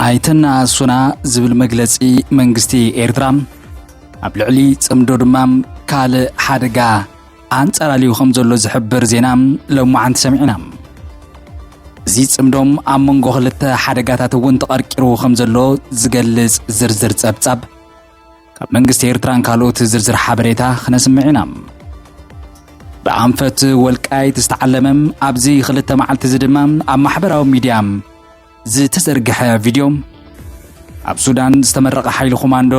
ኣይተነኣሱና ዝብል መግለጺ መንግስቲ ኤርትራ ኣብ ልዕሊ ጽምዶ ድማ ካልእ ሓደጋ ኣንጸላልዩ ከም ዘሎ ዝሕብር ዜና ሎማዓንቲ ሰሚዕና እዚ ጽምዶም ኣብ መንጎ ክልተ ሓደጋታት እውን ተቐርቂሩ ከም ዘሎ ዝገልጽ ዝርዝር ጸብጻብ ካብ መንግስቲ ኤርትራን ካልኦት ዝርዝር ሓበሬታ ክነስምዕ ኢና። ብኣንፈት ወልቃይት ዝተዓለመ ኣብዚ ክልተ መዓልቲ እዚ ድማ ኣብ ማሕበራዊ ሚድያ ዝተዘርግሐ ቪድዮ ኣብ ሱዳን ዝተመረቐ ሓይሊ ኮማንዶ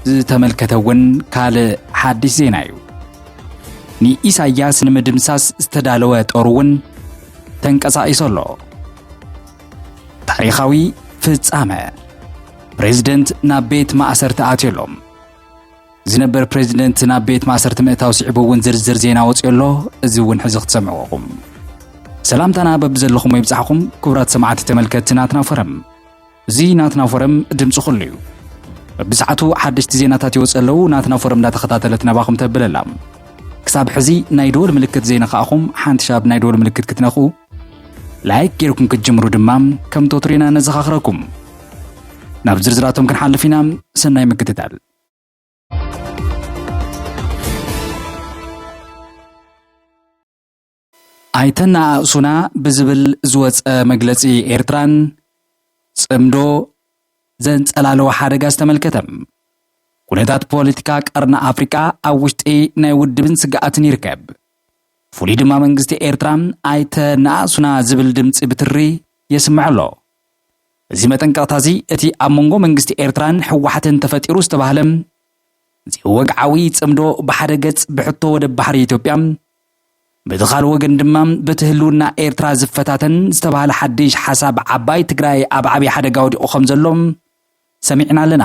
ዝተመልከተ እውን ካልእ ሓድሽ ዜና እዩ ንኢሳያስ ንምድምሳስ ዝተዳለወ ጦር እውን ተንቀሳቒሱ ኣሎ ታሪኻዊ ፍጻመ ፕሬዝደንት ናብ ቤት ማእሰርቲ ኣትዮ ኣሎ ዝነበር ፕሬዝደንት ናብ ቤት ማእሰርቲ ምእታው ስዒቡ እውን ዝርዝር ዜና ወፅዮ ኣሎ እዚ እውን ሕዚ ክትሰምዕዎ ኹም ሰላምታና በብዘለኹም ይብፃሕኹም ክቡራት ሰማዕቲ ተመልከቲ ናትና ፎረም እዚ ናትና ፎረም ድምፂ ኩሉ እዩ በብሰዓቱ ሓደሽቲ ዜናታት ይወፅ ኣለዉ ናትና ፎረም እንዳተኸታተለት ናባኹም ተብለላ ክሳብ ሕዚ ናይ ደወል ምልክት ዘይነኻእኹም ሓንቲ ሻብ ናይ ደወል ምልክት ክትነኽኡ ላይክ ጌርኩም ክትጅምሩ ድማ ከም ቶትሪና ነዘኻኽረኩም። ናብ ዝርዝራቶም ክንሓልፍ ኢና። ሰናይ ምክትታል። ኣይተነኣእሱና ብዝብል ዝወፀ መግለፂ ኤርትራን ፅምዶ ዘንፀላለወ ሓደጋ ዝተመልከተ ኩነታት ፖለቲካ ቀርኒ ኣፍሪቃ ኣብ ውሽጢ ናይ ውድብን ስግኣትን ይርከብ። ፍሉይ ድማ መንግስቲ ኤርትራ ኣይተ ንኣእሱና ዝብል ድምጺ ብትሪ የስምዕ ኣሎ። እዚ መጠንቀቕታዚ እቲ ኣብ መንጎ መንግስቲ ኤርትራን ህወሓትን ተፈጢሩ ዝተባህለ ዘይወግዓዊ ጽምዶ ብሓደ ገጽ ብሕቶ ወደብ ባሕሪ ኢትዮጵያ በቲ ካልእ ወገን ድማ በቲ ህልውና ኤርትራ ዝፈታተን ዝተባህለ ሓድሽ ሓሳብ ዓባይ ትግራይ ኣብ ዓብዪ ሓደጋ ወዲቑ ከም ዘሎ ሰሚዕና ኣለና።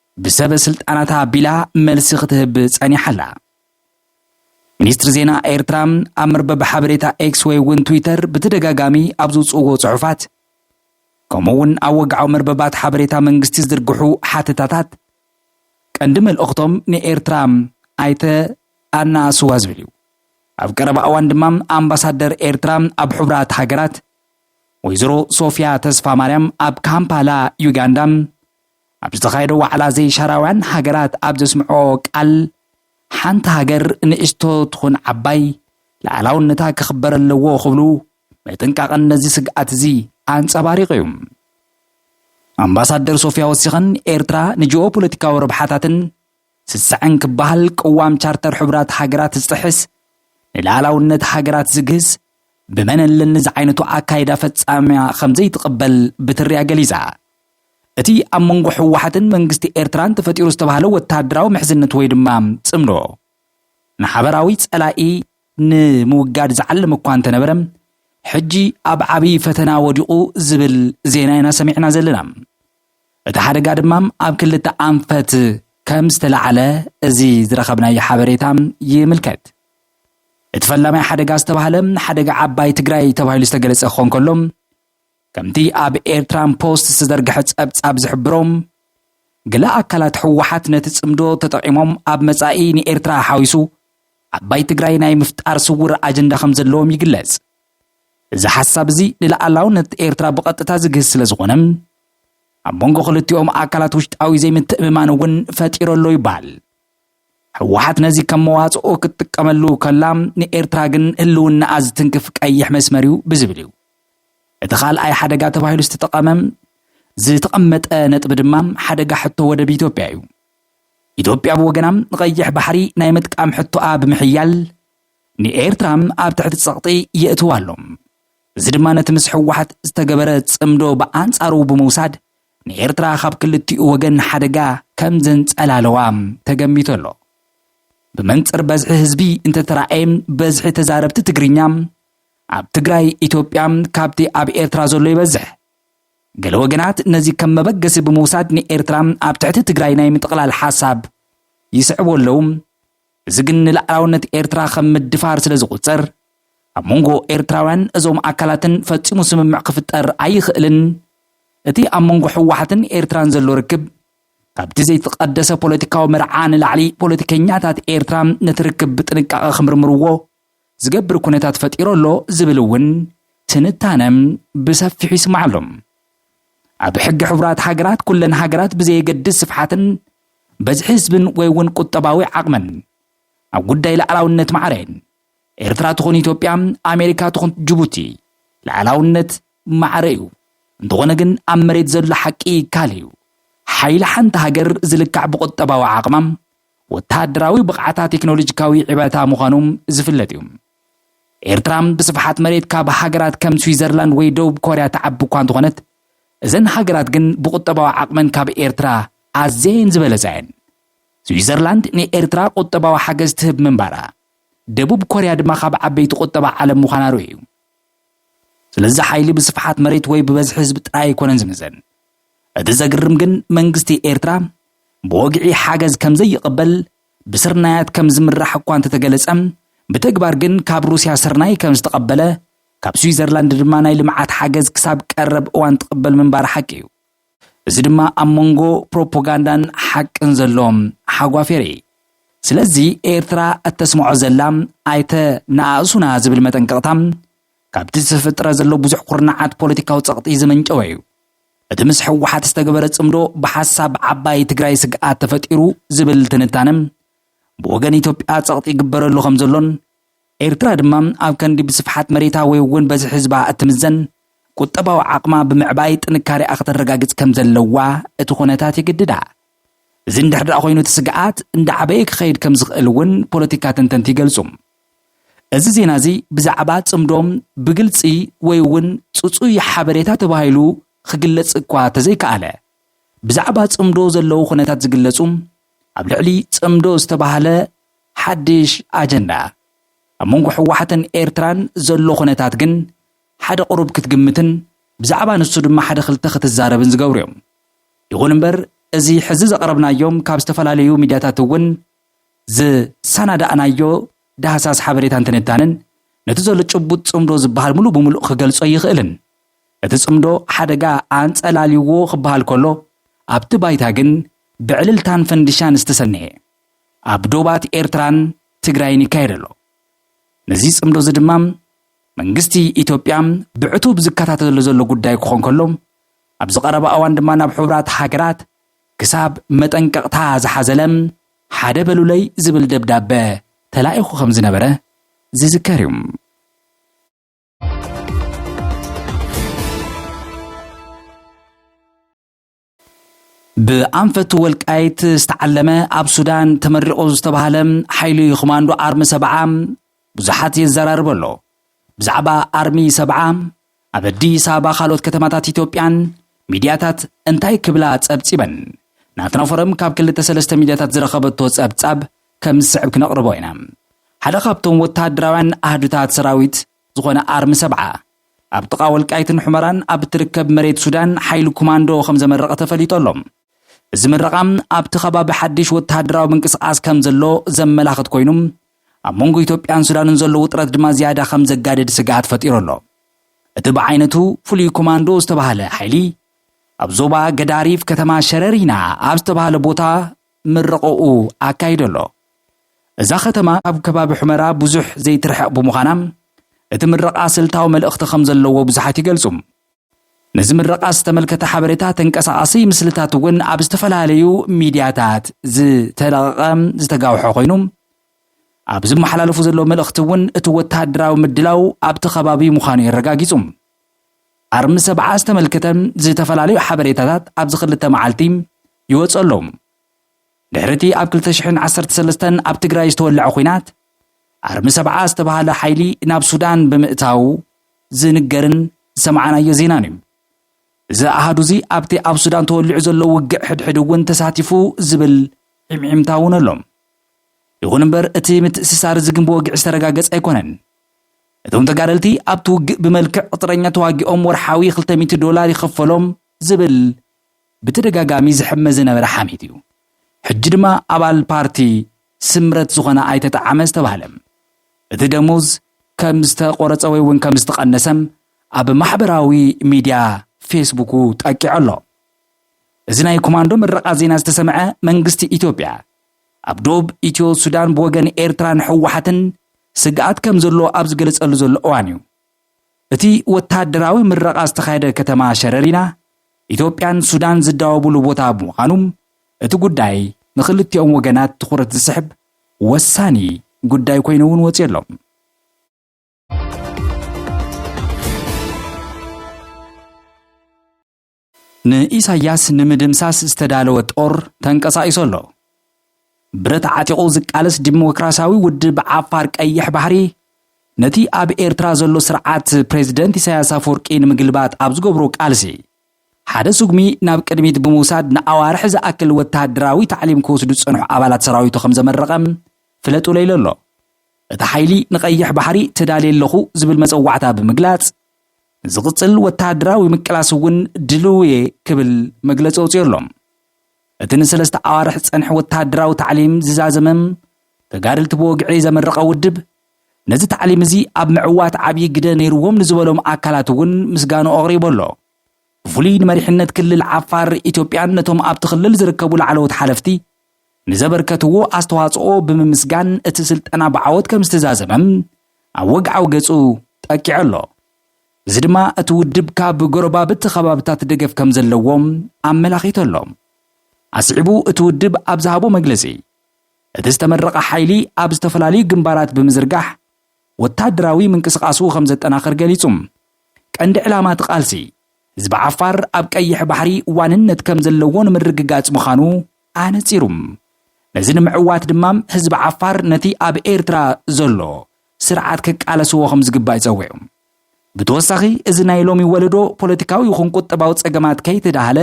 ብሰበ ስልጣናት ኣቢላ መልሲ ክትህብ ጸኒሓ ኣላ። ሚኒስትሪ ዜና ኤርትራ ኣብ መርበብ ሓበሬታ ኤክስ ወይ እውን ትዊተር ብተደጋጋሚ ኣብ ዝውጽእዎ ጽሑፋት ከምኡ እውን ኣብ ወግዓዊ መርበባት ሓበሬታ መንግስቲ ዝድርግሑ ሓተታታት ቀንዲ መልእኽቶም ንኤርትራ ኣይተ ኣናእስዋ ዝብል እዩ። ኣብ ቀረባ እዋን ድማ ኣምባሳደር ኤርትራ ኣብ ሕቡራት ሃገራት ወይዘሮ ሶፊያ ተስፋ ማርያም ኣብ ካምፓላ ዩጋንዳ ኣብ ዝተኻየደ ዋዕላ ዘይሻራውያን ሃገራት ኣብ ዘስምዖ ቃል ሓንቲ ሃገር ንእሽቶ ትኹን ዓባይ ልኣላውነታ ክኽበር ኣለዎ ክብሉ ምጥንቃቐን ነዚ ስግኣት እዚ ኣንጸባሪቑ እዩ ኣምባሳደር ሶፊያ ወሲኸን ኤርትራ ንጂኦ ፖለቲካዊ ረብሓታትን ስስዐን ክበሃል ቅዋም ቻርተር ሕቡራት ሃገራት ዝጥሕስ ንልኣላውነት ሃገራት ዝግህስ ብመን ኣለኒ ዝዓይነቱ ኣካይዳ ፈጻምያ ከም ዘይትቕበል ብትርያ ገሊጻ እቲ ኣብ መንጎ ህወሓትን መንግስቲ ኤርትራን ተፈጢሩ ዝተባህለ ወተሃደራዊ ምሕዝነት ወይ ድማ ጽምዶ፣ ንሓበራዊ ጸላኢ ንምውጋድ ዝዓለመ እኳ እንተነበረ፣ ሕጂ ኣብ ዓብዪ ፈተና ወዲቑ ዝብል ዜና ኢና ሰሚዕና ዘለና። እቲ ሓደጋ ድማ ኣብ ክልተ ኣንፈት ከም ዝተላዕለ እዚ ዝረኸብናዮ ሓበሬታ ይምልከት። እቲ ፈላማይ ሓደጋ ዝተባህለ፣ ሓደጋ ዓባይ ትግራይ ተባሂሉ ዝተገለጸ ክኾን ከሎ፣ ከምቲ ኣብ ኤርትራን ፖስት ዝተዘርግሐ ጸብጻብ ዝሕብሮ፣ ገለ ኣካላት ህወሓት ነቲ ጽምዶ ተጠቒሞም ኣብ መጻኢ ንኤርትራ ሓዊሱ ዓባይ ትግራይ ናይ ምፍጣር ስዉር ኣጀንዳ ከም ዘለዎም ይግለጽ። እዚ ሓሳብ እዚ ንልኣላውነት ኤርትራ ብቐጥታ ዝግህስ ስለ ዝኾነ፣ ኣብ መንጎ ክልቲኦም ኣካላት ውሽጣዊ ዘይምትእምማን እውን ፈጢሩ ኣሎ ይበሃል። ህወሓት ነዚ ከም መዋፅኦ ክትጥቀመሉ ከላ፣ ንኤርትራ ግን ህልውናኣ ዝትንክፍ ቀይሕ መስመር እዩ ብዝብል እዩ እቲ ካልኣይ ሓደጋ ተባሂሉ ዝተጠቐመ። ዝተቐመጠ ነጥቢ ድማ ሓደጋ ሕቶ ወደብ ኢትዮጵያ እዩ። ኢትዮጵያ ብወገና ንቐይሕ ባሕሪ ናይ ምጥቃም ሕቶኣ ብምሕያል ንኤርትራ ኣብ ትሕቲ ጸቕጢ የእትዋ ኣሎ። እዚ ድማ ነቲ ምስ ሕወሓት ዝተገበረ ጽምዶ ብኣንጻሩ ብምውሳድ ንኤርትራ ካብ ክልቲኡ ወገን ሓደጋ ከም ዘንጸላለዋ ተገሚቱ ኣሎ። ብመንጽር በዝሒ ህዝቢ እንተተራእየ በዝሒ ተዛረብቲ ትግርኛ ኣብ ትግራይ፣ ኢትዮጵያ፣ ካብቲ ኣብ ኤርትራ ዘሎ ይበዝሕ። ገለ ወገናት ነዚ ከም መበገሲ ብምውሳድ ንኤርትራ ኣብ ትሕቲ ትግራይ ናይ ምጥቕላል ሓሳብ ይስዕቡ ኣለዉ። እዚ ግን ንላዕላውነት ኤርትራ ከም ምድፋር ስለ ዝቑጸር፣ ኣብ መንጎ ኤርትራውያን እዞም ኣካላትን ፈጺሙ ስምምዕ ክፍጠር ኣይኽእልን። እቲ ኣብ መንጎ ህወሓትን ኤርትራን ዘሎ ርክብ፣ ካብቲ ዘይተቐደሰ ፖለቲካዊ መርዓ ንላዕሊ ፖለቲከኛታት ኤርትራ ነቲ ርክብ ብጥንቃቐ ክምርምርዎ ዝገብር ኩነታት ፈጢሩ ኣሎ ዝብል እውን ትንታነ ብሰፊሑ ይስማዕ ኣሎ። ኣብ ሕጊ ሕቡራት ሃገራት ኩለን ሃገራት ብዘየገድስ ስፍሓትን በዝሒ ህዝብን ወይ እውን ቁጠባዊ ዓቕመን ኣብ ጉዳይ ላዕላውነት ማዕረ እየን። ኤርትራ ትኹን ኢትዮጵያ፣ ኣሜሪካ ትኹን ጅቡቲ ላዕላውነት ማዕረ እዩ። እንተኾነ ግን ኣብ መሬት ዘሎ ሓቂ ካልእ እዩ። ሓይሊ ሓንቲ ሃገር ዝልካዕ ብቁጠባዊ ዓቕማ፣ ወተሃደራዊ ብቕዓታ ቴክኖሎጂካዊ ዕባታ ምዃኑ ዝፍለጥ እዩ። ኤርትራ ብስፍሓት መሬት ካብ ሃገራት ከም ስዊዘርላንድ ወይ ደቡብ ኮርያ ትዓቢ እኳ እንተኾነት፣ እዘን ሃገራት ግን ብቁጠባዊ ዓቕመን ካብ ኤርትራ ኣዝየን ዝበለጻ እየን። ስዊዘርላንድ ንኤርትራ ቁጠባዊ ሓገዝ ትህብ ምንባራ፣ ደቡብ ኮርያ ድማ ካብ ዓበይቲ ቁጠባ ዓለም ምዃና ርኡይ እዩ። ስለዚ ሓይሊ ብስፍሓት መሬት ወይ ብበዝሒ ህዝቢ ጥራይ ኣይኮነን ዝምዘን። እቲ ዘግርም ግን መንግስቲ ኤርትራ ብወግዒ ሓገዝ ከም ዘይቕበል ብስርናያት ከም ዝምራሕ እኳ እንተተገለጸ ብተግባር ግን ካብ ሩስያ ስርናይ ከም ዝተቐበለ ካብ ስዊዘርላንድ ድማ ናይ ልምዓት ሓገዝ ክሳብ ቀረብ እዋን ትቕበል ምንባራ ሓቂ እዩ። እዚ ድማ ኣብ መንጎ ፕሮፖጋንዳን ሓቅን ዘሎ ሓጓፌር እዪ። ስለዚ ኤርትራ እተስምዖ ዘላ ኣይተ ነኣእሱና ዝብል መጠንቀቕታ ካብቲ ዝተፈጥረ ዘሎ ብዙሕ ኩርናዓት ፖለቲካዊ ጸቕጢ ዝመንጨወ እዩ። እቲ ምስ ህወሓት ዝተገበረ ጽምዶ ብሓሳብ ዓባይ ትግራይ ስግኣት ተፈጢሩ ዝብል ትንታነ ብወገን ኢትዮጵያ ጸቕጢ ይግበረሉ ከም ዘሎን ኤርትራ ድማ ኣብ ከንዲ ብስፍሓት መሬታ ወይ እውን በዚ ህዝባ እትምዘን ቁጠባዊ ዓቕማ ብምዕባይ ጥንካሬኣ ክተረጋግጽ ከም ዘለዋ እቲ ኩነታት ይግድዳ። እዚ እንድሕር ኮይኑ እቲ ስግኣት እንዳዓበየ ክኸይድ ከም ዝኽእል እውን ፖለቲካ ተንተንቲ ይገልጹ። እዚ ዜና እዚ ብዛዕባ ጽምዶም ብግልጺ ወይ እውን ጽጹይ ሓበሬታ ተባሂሉ ክግለጽ እኳ ተዘይከኣለ፣ ብዛዕባ ጽምዶ ዘለዉ ኩነታት ዝግለጹ ኣብ ልዕሊ ጽምዶ ዝተባህለ ሓድሽ ኣጀንዳ ኣብ መንጎ ህወሓትን ኤርትራን ዘሎ ኩነታት ግን ሓደ ቁሩብ ክትግምትን ብዛዕባ ንሱ ድማ ሓደ ክልተ ክትዛረብን ዝገብሩ እዮም። ይኹን እምበር እዚ ሕዚ ዘቕረብናዮም ካብ ዝተፈላለዩ ሚድያታት እውን ዘሰናዳእናዮ ዳህሳስ ሓበሬታን ትንታነን ነቲ ዘሎ ጭቡጥ ጽምዶ ዝበሃል ምሉእ ብምሉእ ክገልጾ ኣይኽእልን። እቲ ጽምዶ ሓደጋ ኣንጸላልዩዎ ክበሃል ከሎ፣ ኣብቲ ባይታ ግን ብዕልልታን ፈንድሻን ዝተሰነየ ኣብ ዶባት ኤርትራን ትግራይን ይካየድ ኣሎ። ነዚ ጽምዶ'ዚ ድማ መንግስቲ ኢትዮጵያ ብዕቱብ ዝከታተሎ ዘሎ ጉዳይ ክኾን ከሎ፣ ኣብዚ ቀረባ እዋን ድማ ናብ ሕቡራት ሃገራት ክሳብ መጠንቀቕታ ዝሓዘለ ሓደ በሉለይ ዝብል ደብዳበ ተላኢኹ ከም ዝነበረ ዝዝከር እዩ። ብኣንፈት ወልቃይት ዝተዓለመ ኣብ ሱዳን ተመሪቑ ዝተባህለ ሓይሊ ኮማንዶ ኣርሚ ሰብዓ ብዙሓት የዘራርበ ኣሎ። ብዛዕባ ኣርሚ ሰብዓ ኣብ ኣዲስ ኣበባ ካልኦት ከተማታት ኢትዮጵያን ሚድያታት እንታይ ክብላ ፀብፂበን? ናትና ፎረም ካብ ክልተ ሰለስተ ሚድያታት ዝረኸበቶ ፀብፃብ ከም ዝስዕብ ክነቕርቦ ኢና። ሓደ ካብቶም ወተሃደራውያን ኣሃዱታት ሰራዊት ዝኾነ ኣርሚ ሰብዓ፣ ኣብ ጥቓ ወልቃይትን ሑመራን ኣብ እትርከብ መሬት ሱዳን ሓይሊ ኩማንዶ ከም ዘመረቐ ተፈሊጡ ኣሎ። እዚ ምረቓ ኣብቲ ከባቢ ሓድሽ ወተሃደራዊ ምንቅስቓስ ከም ዘሎ ዘመላኽት ኮይኑ ኣብ መንጎ ኢትዮጵያን ሱዳንን ዘሎ ውጥረት ድማ ዝያዳ ከም ዘጋድድ ስግኣት ፈጢሩ ኣሎ። እቲ ብዓይነቱ ፍሉይ ኮማንዶ ዝተባህለ ሓይሊ ኣብ ዞባ ገዳሪፍ ከተማ ሸረሪና ኣብ ዝተባህለ ቦታ ምረቐኡ ኣካይዶ ኣሎ እዛ ከተማ ኣብ ከባቢ ሑመራ ብዙሕ ዘይትርሕቕ ብምዃና እቲ ምረቓ ስልታዊ መልእኽቲ ከም ዘለዎ ብዙሓት ይገልጹ ነዚ ምረቓ ዝተመልከተ ሓበሬታ ተንቀሳቓሲ ምስልታት እውን ኣብ ዝተፈላለዩ ሚድያታት ዝተለቐቐ ዝተጋውሐ ኮይኑ ኣብ ዝመሓላለፉ ዘለዉ መልእኽቲ እውን እቲ ወተሃደራዊ ምድላው ኣብቲ ከባቢ ምዃኑ የረጋጊፁ። ኣርሚ ሰብዓ ዝተመልከተ ዝተፈላለዩ ሓበሬታታት ኣብዚ ክልተ መዓልቲ ይወፅእ ኣሎ። ድሕሪ እቲ ኣብ ክልተ ሽሕን ዓሰርተ ሰለስተን ኣብ ትግራይ ዝተወለዐ ኲናት፣ ኣርሚ ሰብዓ ዝተበሃለ ሓይሊ ናብ ሱዳን ብምእታዉ ዝንገርን ዝሰምዓናዮ ዜናን እዩ። እዚ ኣሃዱ እዚ ኣብቲ ኣብ ሱዳን ተወሊዑ ዘሎ ውግእ ሕድሕድ እውን ተሳቲፉ ዝብል ሒምሒምታ እውን ኣሎ። ይኹን እምበር እቲ ምትእስሳር እዚ ግን ብወግዒ ዝተረጋገጸ ኣይኮነን። እቶም ተጋደልቲ ኣብቲ ውግእ ብመልክዕ ቅጥረኛ ተዋጊኦም ወርሓዊ ክልተ ሚእቲ ዶላር ይኽፈሎም ዝብል ብተደጋጋሚ ዝሕመ ዝነበረ ሓሜት እዩ። ሕጂ ድማ ኣባል ፓርቲ ስምረት ዝኾነ ኣይተ ጠዓመ ዝተባህለ እቲ ደሞዝ ከም ዝተቖረፀ ወይ እውን ከም ዝተቐነሰ ኣብ ማሕበራዊ ሚዲያ ፌስቡኩ ጠቂዑ ኣሎ። እዚ ናይ ኮማንዶ ምረቓ ዜና ዝተሰምዐ መንግስቲ ኢትዮጵያ ኣብ ዶብ ኢትዮ ሱዳን ብወገን ኤርትራን ህወሓትን ስግኣት ከም ዘሎ ኣብ ዝገለፀሉ ዘሎ እዋን እዩ። እቲ ወተሃደራዊ ምረቓ ዝተኻየደ ከተማ ሸረሪና፣ ኢትዮጵያን ሱዳን ዝዳወቡሉ ቦታ ብምዃኑ፣ እቲ ጉዳይ ንኽልቲኦም ወገናት ትኹረት ዝስሕብ ወሳኒ ጉዳይ ኮይኑ እውን ወፂኡ ኣሎ። ንኢሳያስ ንምድምሳስ ዝተዳለወ ጦር ተንቀሳቂሱ ኣሎ። ብረት ዓጢቑ ዝቃለስ ዲሞክራሲያዊ ውድብ ዓፋር ቀይሕ ባሕሪ ነቲ ኣብ ኤርትራ ዘሎ ስርዓት ፕሬዚደንት ኢሳያስ ኣፈወርቂ ንምግልባጥ ኣብ ዝገብሮ ቃልሲ ሓደ ስጉሚ ናብ ቅድሚት ብምውሳድ ንኣዋርሒ ዝኣክል ወተሃደራዊ ታዕሊም ክወስዱ ዝጸንሑ ኣባላት ሰራዊቱ ከም ዘመረቐ ፍለጡለይ ኣሎ። እቲ ሓይሊ ንቀይሕ ባሕሪ ተዳልየ ኣለኹ ዝብል መጸዋዕታ ብምግላጽ፣ ንዝቕፅል ወተሃደራዊ ምቅላስ እውን ድልው እየ ክብል መግለፂ ኣውፂኡ ኣሎ። እቲ ንሰለስተ ኣዋርሕ ዝፀንሐ ወተሃደራዊ ታዕሊም ዝዛዘመ ተጋደልቲ ብወግዒ ዘመረቐ ውድብ ነዚ ታዕሊም እዚ ኣብ ምዕዋት ዓብዪ ግደ ነይርዎም ንዝበሎም ኣካላት እውን ምስጋኑ ኣቕሪቡ ኣሎ። ብፍሉይ ንመሪሕነት ክልል ዓፋር ኢትዮጵያን ነቶም ኣብቲ ክልል ዝርከቡ ላዕለዎት ሓለፍቲ ንዘበርከትዎ ኣስተዋፅኦ ብምምስጋን እቲ ስልጠና ብዓወት ከምዝተዛዘመ ኣብ ወግዓዊ ገፁ ጠቂዑ ኣሎ። እዚ ድማ እቲ ውድብ ካብ ጎረባብቲ ከባብታት ደገፍ ከምዘለዎ ኣመላኺቱ ኣሎ። ኣስዒቡ እቲ ውድብ ኣብ ዝሃቦ መግለፂ እቲ ዝተመረቐ ሓይሊ ኣብ ዝተፈላለዩ ግንባራት ብምዝርጋሕ ወታደራዊ ምንቅስቓሱ ከምዘጠናኽር ገሊፁ። ቀንዲ ዕላማ እቲ ቃልሲ ህዝቢ ዓፋር ኣብ ቀይሕ ባሕሪ ዋንነት ከምዘለዎ ንምርግጋፅ ምዃኑ ኣነጺሩ። ነዚ ንምዕዋት ድማ ህዝቢ ዓፋር ነቲ ኣብ ኤርትራ ዘሎ ስርዓት ክቃለስዎ ከም ዝግባእ ጸዊዑ። ብተወሳኺ እዚ ናይ ሎሚ ወለዶ ፖለቲካዊ ይኹን ቁጠባዊ ጸገማት ከይተዳህለ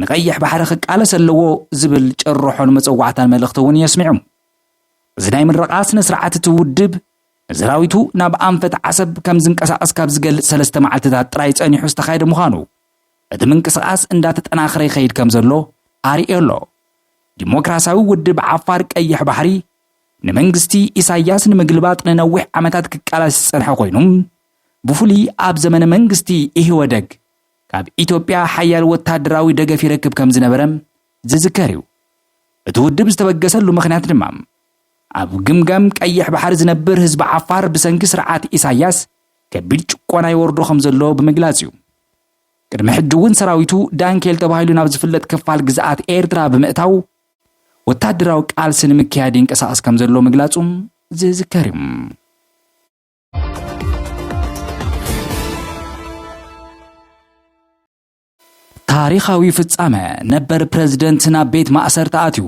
ንቀይሕ ባሕሪ ክቃለስ ኣለዎ ዝብል ጭርሖን መጸዋዕታን መልእኽቲ እውን የስሚዑ። እዚ ናይ ምረቓ ስነ ስርዓት እቲ ውድብ ንሰራዊቱ ናብ ኣንፈት ዓሰብ ከም ዝንቀሳቐስ ካብ ዝገልጽ ሰለስተ መዓልትታት ጥራይ ጸኒሑ ዝተኻየደ ምዃኑ እቲ ምንቅስቓስ እንዳተጠናኸረ ይኸይድ ከም ዘሎ ኣርእዮ ኣሎ። ዲሞክራሲያዊ ውድብ ዓፋር ቀይሕ ባሕሪ ንመንግስቲ ኢሳያስ ንምግልባጥ ንነዊሕ ዓመታት ክቃላስ ዝጸንሐ ኮይኑ ብፍሉይ ኣብ ዘመነ መንግስቲ ኢህወደግ ካብ ኢትዮጵያ ሓያል ወታደራዊ ደገፍ ይረክብ ከም ዝነበረ ዝዝከር እዩ። እቲ ውድብ ዝተበገሰሉ ምኽንያት ድማ ኣብ ግምጋም ቀይሕ ባሕሪ ዝነብር ህዝቢ ዓፋር ብሰንኪ ስርዓት ኢሳያስ ከቢድ ጭቆና ይወርዶ ከም ዘሎ ብምግላጽ እዩ። ቅድሚ ሕጂ እውን ሰራዊቱ ዳንኬል ተባሂሉ ናብ ዝፍለጥ ክፋል ግዝኣት ኤርትራ ብምእታው ወታደራዊ ቃልሲ ንምክያድ ይንቀሳቐስ ከም ዘሎ ምግላጹ ዝዝከር እዩ። ታሪኻዊ ፍጻመ፣ ነበር ፕረዚደንት ናብ ቤት ማእሰርቲ ኣትዩ።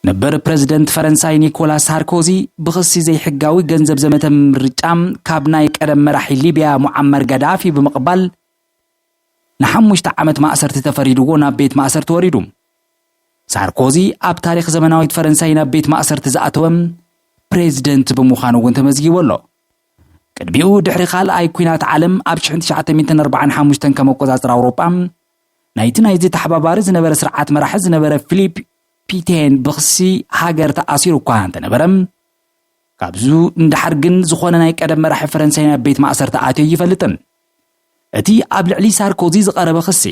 ነበር ፕረዚደንት ፈረንሳይ ኒኮላስ ሳርኮዚ ብኽሲ ዘይሕጋዊ ገንዘብ ዘመተ ምርጫ ካብ ናይ ቀደም መራሒ ሊብያ ሙዓመር ጋዳፊ ብምቕባል ንሓሙሽተ ዓመት ማእሰርቲ ተፈሪድዎ ናብ ቤት ማእሰርቲ ወሪዱ። ሳርኮዚ ኣብ ታሪኽ ዘመናዊት ፈረንሳይ ናብ ቤት ማእሰርቲ ዝኣተወ ፕሬዚደንት ብምዃኑ እውን ተመዝጊቡ ኣሎ። ቅድሚኡ ድሕሪ ካልኣይ ኩናት ዓለም ኣብ ሽሕን ትሽዓተ ሚእትን ኣርባዓን ሓሙሽተን ከም ኣቆጻጽራ ኣውሮጳ ናይቲ ናይዚ ተሓባባሪ ዝነበረ ስርዓት መራሒ ዝነበረ ፊሊፕ ፒቴን ብክሲ ሃገር ተኣሲሩ እኳ እንተነበረ ካብዙ ንደሓር ግን ዝኾነ ናይ ቀደም መራሒ ፈረንሳይ ናብ ቤት ማእሰርቲ ኣትዮ ኣይፈልጥን። እቲ ኣብ ልዕሊ ሳርኮዚ ዝቐረበ ክሲ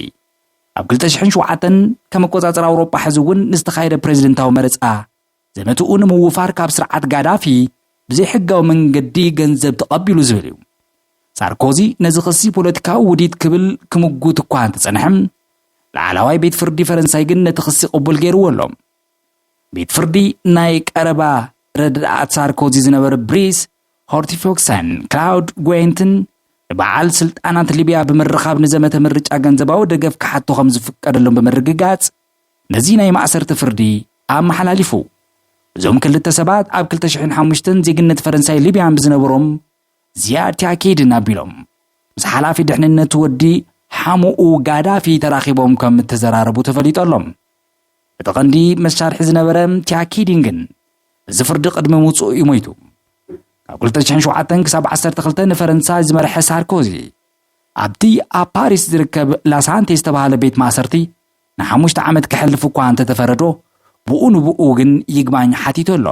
ኣብ ክልተ ሽሕን ሸውዓተን ከም ኣቆጻጽራ ኣውሮጳ ሕዚ እውን ንዝተኻየደ ፕሬዚደንታዊ መረፃ ዘመትኡ ንምውፋር ካብ ስርዓት ጋዳፊ ብዘይሕጋዊ መንገዲ ገንዘብ ተቐቢሉ ዝብል እዩ። ሳርኮዚ ነዚ ክሲ ፖለቲካዊ ውዲት ክብል ክምጉት እኳ እንተጸንሐ፣ ላዕላዋይ ቤት ፍርዲ ፈረንሳይ ግን ነቲ ክሲ ቅቡል ገይርዎ ኣሎ። ቤት ፍርዲ ናይ ቀረባ ረዳኣት ሳርኮዚ ዝነበሩ ብሪስ ሆርቲፎክሰን ክላውድ ጎየንትን ንበዓል ስልጣናት ሊብያ ብምርኻብ ንዘመተ ምርጫ ገንዘባዊ ደገፍ ክሓቱ ከም ዝፍቀደሎም ብምርግጋጽ ነዚ ናይ ማእሰርቲ ፍርዲ ኣመሓላሊፉ። እዞም ክልተ ሰባት ኣብ ክልተ ሽሕን ሓሙሽተን ዜግነት ፈረንሳይ ሊብያን ብዝነበሮም ዚያድ ቲኣኬድን ኣቢሎም ምስ ሓላፊ ድሕንነት ወዲ ሓሙኡ ጋዳፊ ተራኺቦም ከም እተዘራረቡ ተፈሊጡ ኣሎ። እቲ ቀንዲ መሳርሒ ዝነበረ ቲኣኬዲን ግን እዚ ፍርዲ ቅድሚ ምውጽኡ እዩ ሞይቱ። ካብ 2007 ክሳብ 12 ንፈረንሳይ ዝመርሐ ሳርኮዚ ኣብቲ ኣብ ፓሪስ ዝርከብ ላሳንቴ ዝተባህለ ቤት ማእሰርቲ ንሓሙሽተ ዓመት ከሕልፍ እኳ እንተተፈረዶ ብኡ ንብኡ ግን ይግባኝ ሓቲቱ ኣሎ።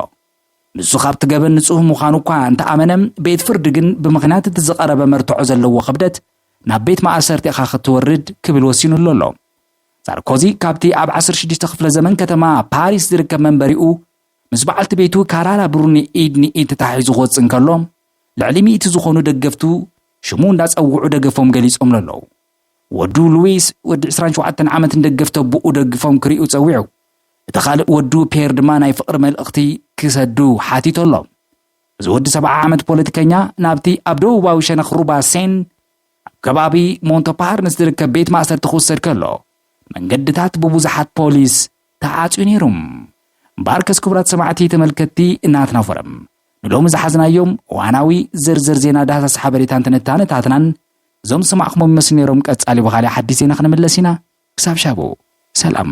ንሱ ካብቲ ገበን ንጹህ ምዃኑ እኳ እንተኣመነ ቤት ፍርዲ ግን ብምኽንያት እቲ ዝቐረበ መርትዖ ዘለዎ ክብደት ናብ ቤት ማእሰርቲ ኢኻ ክትወርድ ክብል ወሲኑሉ ኣሎ። ሳርኮዚ ካብቲ ኣብ 16 ክፍለ ዘመን ከተማ ፓሪስ ዝርከብ መንበሪኡ ምስ በዓልቲ ቤቱ ካራላ ብሩኒ ኢድ ንኢድ ተታሒዙ ክወጽእ እንከሎ ልዕሊ ሚእቲ ዝኾኑ ደገፍቱ ሽሙ እንዳጸውዑ ደገፎም ገሊጾምሉ ኣለዉ። ወዱ ሉዊስ፣ ወዲ ዕስራን ሸውዓተን ዓመት ንደገፍቲ ኣቦኡ ደግፎም ክሪኡ ጸዊዑ። እቲ ካልእ ወዱ ፔየር ድማ ናይ ፍቕሪ መልእኽቲ ክሰዱ ሓቲቶሎም። እዚ ወዲ ሰብዓ ዓመት ፖለቲከኛ ናብቲ ኣብ ደቡባዊ ሸነኽ ሩባ ሴን ኣብ ከባቢ ሞንቶፓርንስ ዝርከብ ቤት ማእሰርቲ ክውሰድ ከሎ መንገድታት ብብዙሓት ፖሊስ ተዓጽዩ ነይሩ። ባርከስ ክቡራት ሰማዕቲ ተመልከትቲ ናትና ፎረም ንሎሚ ዝሓዝናዮም እዋናዊ ዝርዝር ዜና ዳህሳስ ሓበሬታን ትንታነታትናን እዞም ዝሰማዕኹሞም ይመስሉ ነይሮም ቀጻሊ ብኻልእ ሓዲስ ዜና ክንምለስ ኢና ክሳብ ሻቡ ሰላም።